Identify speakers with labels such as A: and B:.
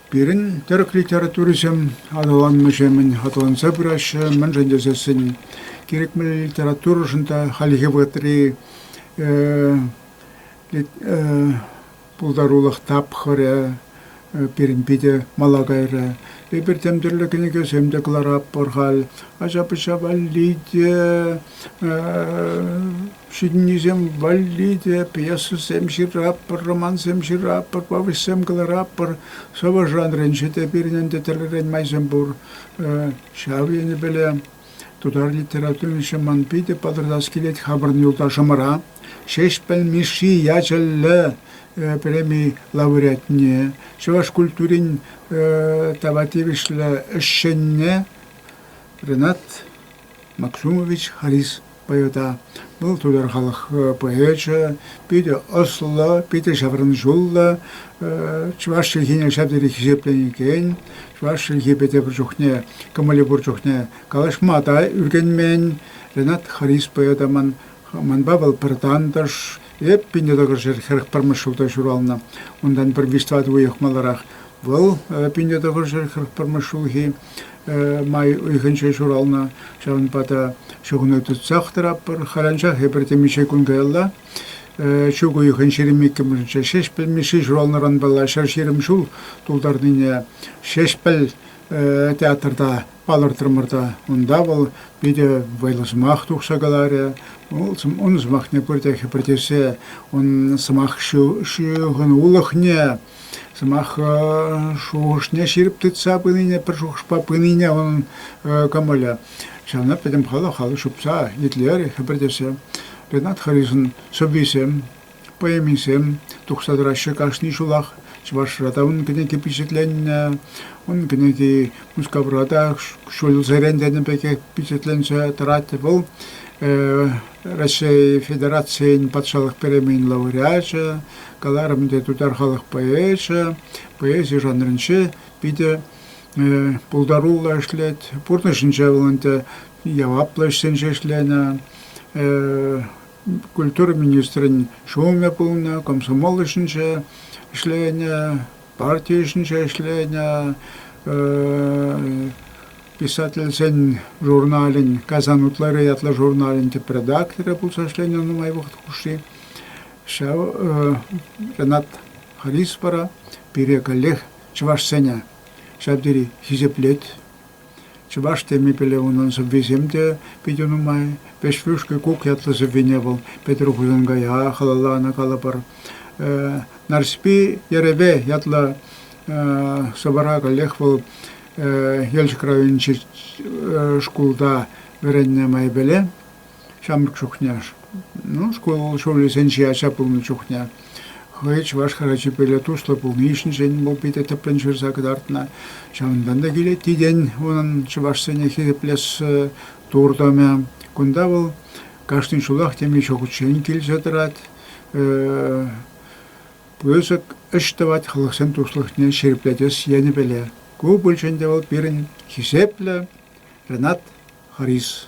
A: Пирӗн тӗрӗк литературисем аталаннӑҫемӗн аталанса пыраҫҫӗ, мӗншӗн тесессӗн кирек мӗнле литературӑшӑн та хальхи вӑхӑтри пултарулӑх тапхӑрӗ пирӗн питӗ мала кайрӗ. Эпир тем тӗрлӗ кӗнекесем те кӑларатпӑр халь. Ача-пӑча валли те, ҫитӗннисем валли те пьесӑсем ҫыратпӑр, романсем ҫыратпӑр, повеҫсем кӑларатпӑр. Сӑвӑ жанрӗнче те пирӗн ӗнтӗ тӗрлӗрен майсем пур. Ҫав енӗпеле Тутар литературиҫи ман питӗ пӑтӑртас килет хамӑрӑн юлташӑмӑра Ҫеҫпӗл Мишши ячӗллӗ преми лауреатне, чӑваш культурин тава тивӗҫлӗ ӗҫченне Ренат Максумович Харис Поэта вӑл тутар халӑх поэчӗ, питӗ ӑслӑ, питӗ ҫаврӑнҫуллӑ, чӑваш чӗлхине ҫав тери хисепленекен, чӑваш чӗлхи пӗтӗ пур чухне, кӑмӑлӗ пур чухне калаҫма та ӳркенмен Ренат Харис поэта ман манпа вӑл пӗр тантӑш, эп пинне тӑкӑшӑр хӗрӗх пӗрмӗш ҫулта ҫуралнӑ. Унтан пӗр виҫ-тӑватӑ уйӑх маларах вӑл пинне тӑкӑшӑр хӗрӗх пӗрмӗш ҫулхи. май уйӑхӗнче ҫуралнӑ. Ҫавӑнпа та чухне тытсах тӑратпӑр. Халанчах эпир темиҫе кун каялла ҫук уйӑхӑн ҫирӗм иккӗмӗшӗнче Ҫеҫпӗл Мишши ҫуралнӑранпала ҫӗр-ҫирӗм ҫул тултарнине Ҫеҫпӗл театрта палӑртрӑмӑр та унта вӑл питӗ вӑйлӑ сӑмах тухса каларӗ. Ун сӑмахне пурте хӗпӗртесе ун сӑмах ҫыхӑнулӑхне Сӑмах шухӑшне ҫирӗп тытса пынине, пӗр шухӑшпа пынине унӑн кӑмӑлӗ. Ҫавна пӗтӗм халӑх алӑ ҫупса итлерӗ, хӗпӗртесе. Ренат Харисӑн сӑввисем, поэмисем тухса тӑраҫҫӗ кашни ҫулах. Чӑвашра та ун кӗнеки пичетленнӗ. Ун кӗнеки Мускавра та ҫулсерен тенӗ пекех пичетленсе тӑрать. Вӑл Раҫҫей Федерацийӗн патшалӑх премийӗн лауреачӗ. Каларӑм ӗнтӗ, тутар халӑх поэчӗ, поэзи жанрӗнче питӗ пултаруллӑ ӗҫлет. Пурнӑҫӗнче вӑл ӗнтӗ яваплӑ ӗҫсенче ӗҫленӗ культура министрӗн ҫумӗ пулнӑ, комсомол ӗҫӗнче ӗҫленӗ, парти ӗҫӗнче ӗҫленӗ, писательсен журналӗн «Казан утлары» ятлӑ журналӗн тӗп редакторӗ пулса ӗҫленӗ нумай вӑхӑт хушши. Ҫав Ренат Харисовпа пире каллех чӑвашсене ҫав тери хисеплет. Чӑваш темипеле унӑн сӑввисем те питӗ нумай. Пӗҫвӳшки кук ятлӑ сӑввине вӑл Петӗр Хусанкая халалланӑ калӑпӑр. Нарспи Ереве ятлӑ сӑвӑра каллех вӑл Елчӗк районӗнчи шкулта вӗреннӗ майӗпеле. ҫамрӑк чухне, ну, школ ҫулӗсенчи ача пулнӑ чухне. Хӑй чӑваш хӗрачипеле туслӑ пулни ҫинчен вӑл питӗ тӗплӗн ҫырса кӑтартнӑ. Ҫавӑнтан та килет тiden унӑн чӑвашсене хисеплес туртӑмӗ. Кунта вӑл кашни ҫулах темиҫе ҫухӑччен килсе тӑрать. Пысӑк ӗҫ тӑвать халӑхсен туслӑхне ҫирӗплетес енӗпеле. Ку пулчӗ ӗнтӗ вӑл пирӗн хисеплӗ Ренат Харис